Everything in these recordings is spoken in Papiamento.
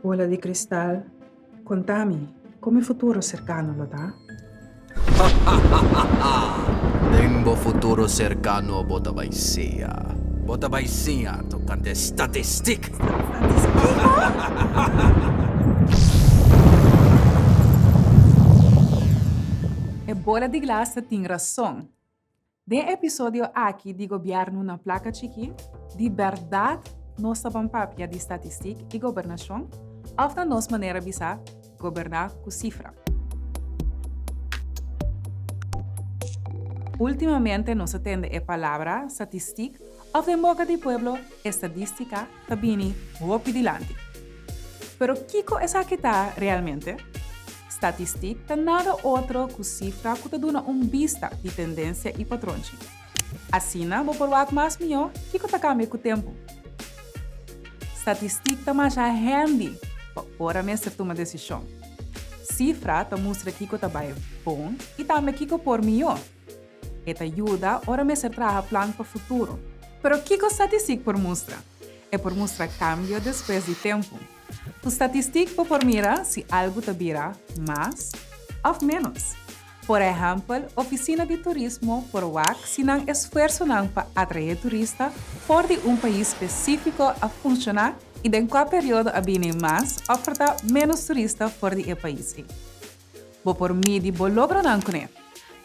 Bola di kristal, konta mi, kon mi futuro serkano lo ta? Den bo futuro serkano bo ta bai siña. Bo ta bai siña tokante e statistik. E bola di glas ta tin rason. Den episodio aki di Gobièrnu na Plaka Chikí, di bèrdat nos ta ban papia di statistik i gobernashon òf na nos manera bisa, goberná ku sifra? Últimamente nos a tende e palabra statistik òf den boka di pueblo estadístika, ta bini hopi dilanti. Pero kiko esaki ta realmente? Statistik ta nada otro ku sifra ku ta duna un bista di tendensia i patron chi. Asina bo por wak mas mihó kiko ta kambia ku tempu. Statistik ta masha hendi pa ora mester tuma desishon. Sifra ta mustra kiko ta bai bon i tambe kiko por mihó. E ta yuda ora mester traha plan pa futuro. Pero kiko statistik por mustra? E por mustra kambio despues di tempu. Ku statistik bo por mira si algu ta bira mas òf ménos. Por ehèmpel, ofisina di turismo por wak si nan esfuersonan pa atraé turista for di un pais spesífiko a funshoná i den kua periodo a bini mas òf portá ménos turista for di e pais ei. Bo por midi bo logronan ku ne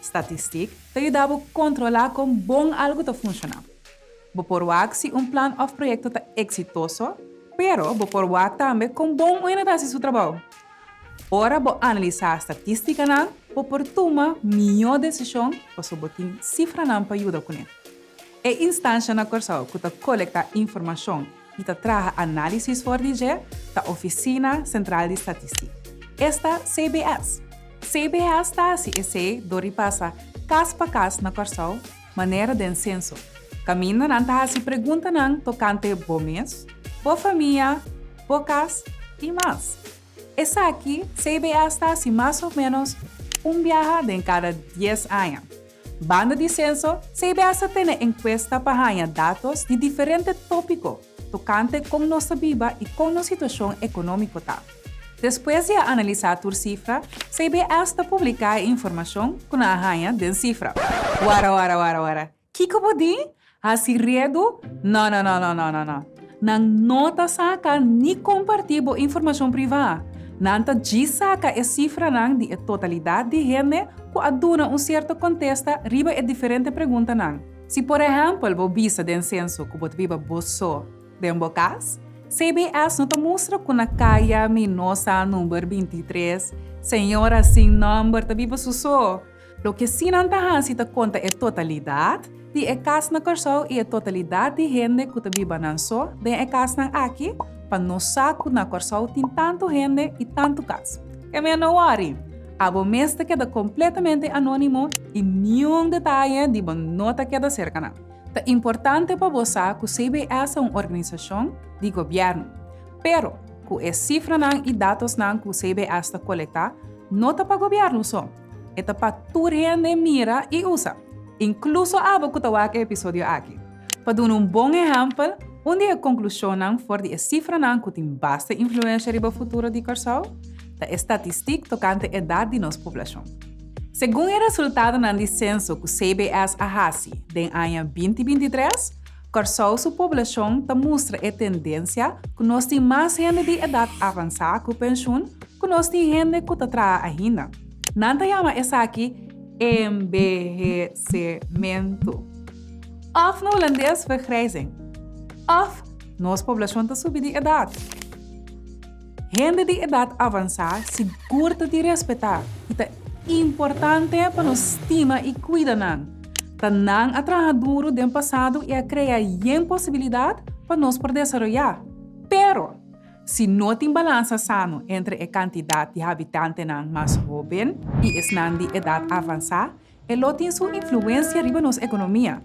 statistik ta yuda bo kontrolá kon bon algu ta funshoná. Bo por wak si un plan òf proyekto ta eksitoso, pero bo por wak tambe kon bon un enhet hasi su trabou. Ora bo analisá statistikanan bo por tuma mihó desishon pasobra bo tin sifranan pa yuda ku ne. E instansha na Kòrsou ku ta kolektá informashon y ta traha análisis for di dje ta Oficina Central di Statistic, esta CBS. CBS ta haci esey dor di pasa cas pa cas na Corsou, manera den censo, caminda nan ta haci preguntanan tocante bo mes, bo famia, bo cas y mas. Esaki CBS ta haci mas o menos un biaha den cada dies aña. Banda di Censo, CBS a tene enkuesta pa haña datos di diferente tópiko tokante kon nos ta biba i kon nos situashon ekonómiko ta. Despues di a analisá tur sifra, CBS ta publiká e informashon ku nan a haña den sifra. Wara wara wara wara! Kiko bo di? Hasi redu? No no no no no no. Nan no ta saka ni kompartí bo informashon privá. Nan ta djis saka e sifranan di e totalidat di hende ku a duna un sierto kontesta riba e diferente preguntanan. Si por ehèmpel bo bisa den senso ku bo ta biba bo so den bo kas, CBS no ta mustra ku na kaya Minosa number binti tres señora sin nòmber ta biba su so. Loke si nan ta hasi ta konta e totalidat di e kas na Kòrsou i e totalidat di hende ku ta biba nan so den e kasnan aki pa nos sa ku na Kòrsou tin tantu hende i tantu kas. Kemia no wòri! Abo mes ta keda kompletamente anónimo i niun detaye di bo no ta keda serka nan. Ta importante pa bo sa ku CBS ta un organisashon di gobièrnu. Pero, ku e sifranan i datosnan ku CBS ta kolektá, no ta pa gobièrnu so. E ta pa tur hende mira i usa, inkluso abo ku ta wak e episodio aki. Pa duna un bon ehèmpel, un di e konklushonnan for di e sifranan ku tin basta influensha riba futuro di Kòrsou ta e statistik tokante edat di nos poblashon. Segun e resultadonan di senso ku CBS a hasi den aña binti binti tres, Kòrsou su poblashon ta mustra e tendensia ku nos tin mas hende di edat avansá ku penshun ku nos tin hende ku ta traha ainda. Nan ta yama esaki enbehesementu òf na hulandes vergrijzing òf nos poblashon ta subi di edat. Hende di edat avansá sigur ta di respetá i ta importante pa nos stima i kuida nan. Ta nan a traha duru den pasado i a krea yen posibilidat pa nos por desaroyá. Pero, si no tin balansa sano entre e kantidat di habitantenan mas hóben i esnan di edat avansá, E lo tin su influensia riba nos ekonomia,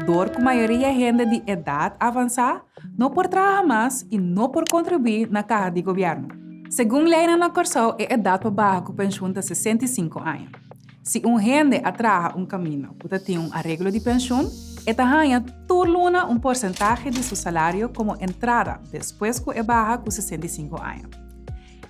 dor ku mayoria e hende di edat avansá no por traha mas i no por kontribuí na kaha di gobièrnu. Segun leinan na Kòrsou e edat pa baha ku penshun ta sesenta i sinku aña. Si un hende a traha un kaminda ku ta tin un areglo di penshun, e ta haña tur luna un porsentahe di su salario komo entrada despues ku e baha ku sesenta i sinku aña.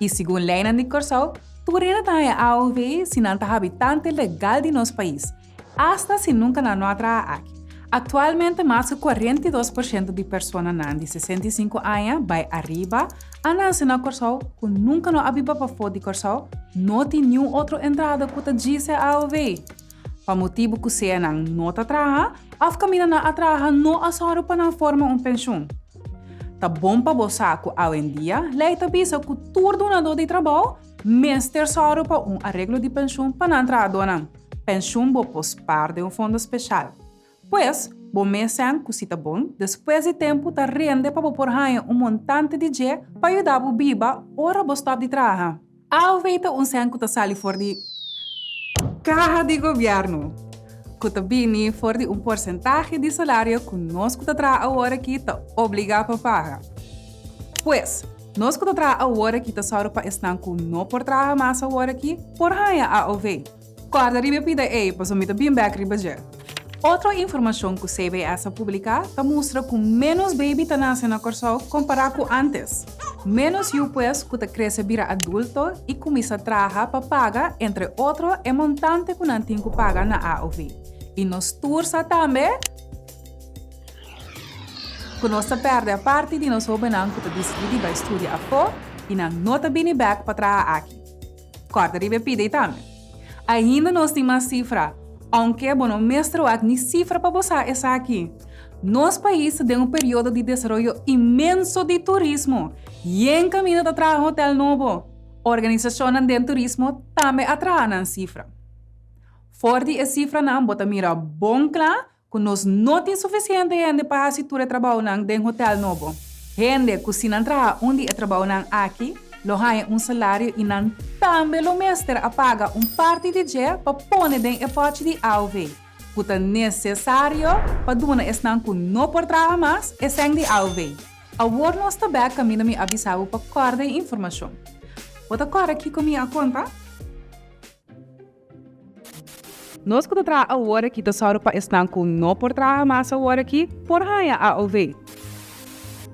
I segun leinan di Kòrsou, tur hende ta haña AOV si nan ta habitante legal di nos pais, asta si nunka nan no a traha aki. Aktualmente mas ku kuarenta i dos por shento di personanan di sesenta i sinku aña bai ariba a nase na Kòrsou ku nunka no a biba pafó di Kòrsou, no tin niun otro entrada ku ta djis'e AOV. pa motibu ku sea nan no ta traha òf kaminda nan a traha no a sòru pa nan forma un penshun. Ta bon pa bo sa ku awendia lei ta bisa ku tur dunadó di trabou mester sòru pa un areglo di penshun pa nan trahadónan, penshun bo pos par den un fondo speshal. Pues, bo mes sèn ku si ta bon, despues di tempu ta rende pa bo por haña un montante di dje pa yuda bo biba ora bo stòp di traha. Alvei ta un sèn ku ta sali for di kaha di gobièrnu, ku ta bini for di un porsentahe di salario ku nos ku ta traha awor aki ta obligá pa paga. Pues, nos ku ta traha awor aki ta sòru pa esnan ku no por traha mas awor aki por haña AOV. Kòrda riba e pida ei, paso mi ta bin bèk riba dje. Otro informashon ku CBS a publiká ta mustra ku ménos beibi ta nase na Kòrsou kompará ku ántes. Ménos yu pues ku ta krese bira adulto i kuminsá traha pa paga entre otro e montante ku nan tin ku paga na AOV. I nos tur sa tambe ku nos ta pèrdè parti di nos hóbennan ku ta disidí di bai studia afó i nan no ta bini bèk pa traha aki. Kòrda riba e pida ei tambe. Ainda nos tin mas sifra, ounke bo no mester wak ni sifra pa bo sa esaki. Nos pais ta den un periodo di desaroyo inmenso di turismo i en kaminda ta traha hotel nobo. Organisashonnan den turismo tambe a traha nan sifra. For di e sifranan bo ta mira bon kla Ku nos no tin sufisiente hende pa hasi tur e trabounan den hotèl nobo. Hende ku si nan traha un di e trabounan aki lo haña un salario i nan tambe lo mester a paga un parti di dje pa pone den e pòchi di AOW ku ta nesesario pa duna esnan ku no por traha mas esèn di AOW. Awor nos ta bèk kaminda mi a bisa bo pa kòrda e informashon. Bo ta kòrda kiko mi a konta? Nos ku ta traha awor aki ta sòru pa esnan ku no por traha mas awor aki por haña AOV.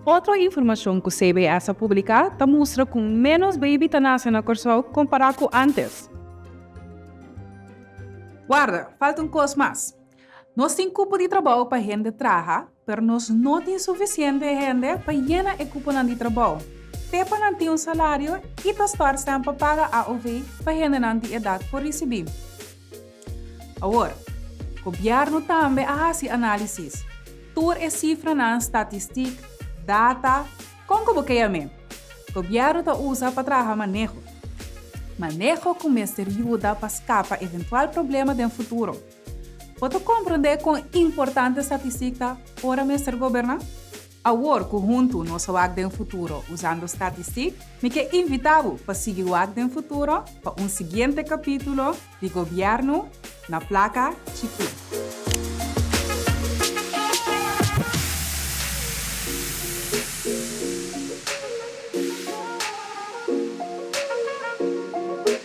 Otro informashon ku CBS a publiká ta mustra ku ménos beibi ta nase na Kòrsou kompará ku ántes. Warda, falta un kos mas. Nos tin kupo di trabou pa hende traha. Pero nos no tin suficiente hende pa yena e cuponan di trabao. Te pa nan tin un salario y ta stòrsen pa paga AOV pa hendenan di edad por ricibi. Awor, Gobierno tambe a haci analisis. Tur e cifranan, statistic, data, con cu bo kea me, Gobierno ta usa pa traha maneho. Maneho cu mester yuda pa scapa eventual problema den futuro. Bo ta komprendé kon importante statistika ora mester goberná? Awor ku huntu nos a wak den futuro usando statistik, mi ke invitá bo pa sigui wak den futuro pa un siguiente kapítulo di Gobièrnu na plaka chikí.